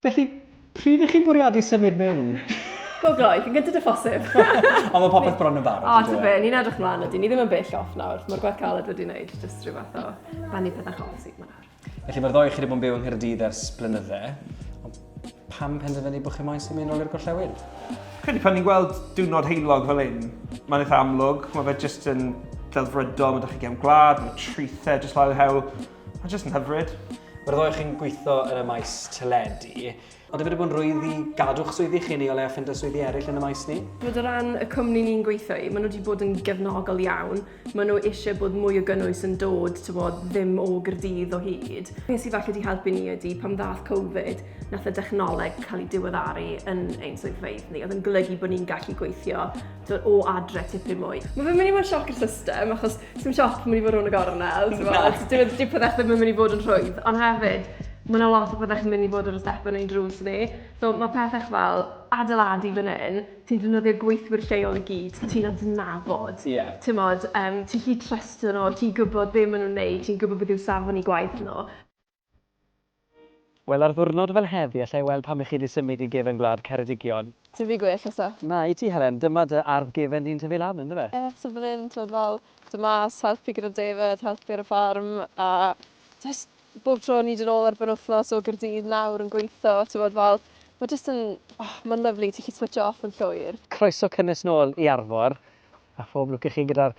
Felly, pryd ych chi'n bwriadu symud mewn? Go gloi, cyn gynted â phosib! Ond mae popeth bron yn barod, O, yndyw e? tybed, ni'n edrych mlaen, ydyn, ni ddim yn bell off nawr. Mae'r gwaith caled wedi wneud jyst rhyw fath o banibydd a chofsig 'ma nawr. Felly mae'r ddoi chi wedi bod yn byw yng Nghaerdydd ers blynydde, ond pam penderfynu bod chi moyn sy'n mynd nôl i'r gorllewin? Credu pan ni'n gweld diwrnod heilog fel un, mae'n eitha amlwg, mae fe jyst yn delfrydol, mae ydych chi gem gwlad, mae trithau jyst lawr hewl, mae'n jyst yn hyfryd. Mae'r ddoi chi'n gweithio yn y maes teledu, Ydych wedi bod yn rwydd i gadw'ch swyddi chi neu o leia ffindo swyddi eraill yn y maes ni? Chimod o ran y cwmni ni'n gweithio i, maen nhw wedi bod yn gefnogol iawn. Maen nhw eisiau bod mwy o gynnwys yn dod, tibod, ddim o Gaerdydd o hyd. Be sydd falle wedi helpu ni ydy, pan ddaeth Covid, wnaeth y dechnoleg cael ei diweddaru yn ein swyddfeydd ni, oedd yn golygu bod ni'n gallu gweithio dod o adre tipyn mwy. Mae fe'n mynd i fod yn sioc i'r system, achos sy'n sioc pan mynd i fod rhwng y gornel. Dwi'n di pethau ddim yn mynd i fod yn rhwydd, ond hefyd, mae yna lot o pethau chi'n mynd i fod yn y step yn ein drws ni. So mae pethau fel adeiladu fan hyn, ti'n defnyddio gweithwyr lleol i gyd, ti'n adnabod. Yeah. Ti'n modd, um, ti'n lli trystio nhw, ti'n gwybod be maen nhw'n neud, ti'n gwybod beth yw safon i gwaith nhw. Wel ar ddwrnod fel heddi alla i weld pam i chi di symud i gefen gwlad Ceredigion. Tyfu gwell eto. Na i ti Helen, dyma dy ardd gefen di'n tyfu lan ynddo fe. Ie so fan hyn t'mod fel do mas helpu gyda defaid helpu ar y ffarm a jyst bob tro o'n ni'n dod nôl ar benwthnos o Gaerdydd nawr yn gweitho t'mod fel ma' jyst yn o ma'n lyfli ti 'llu switsio off yn llwyr. Croeso cynnes nôl i Arfor a phob lwc i chi gyda'r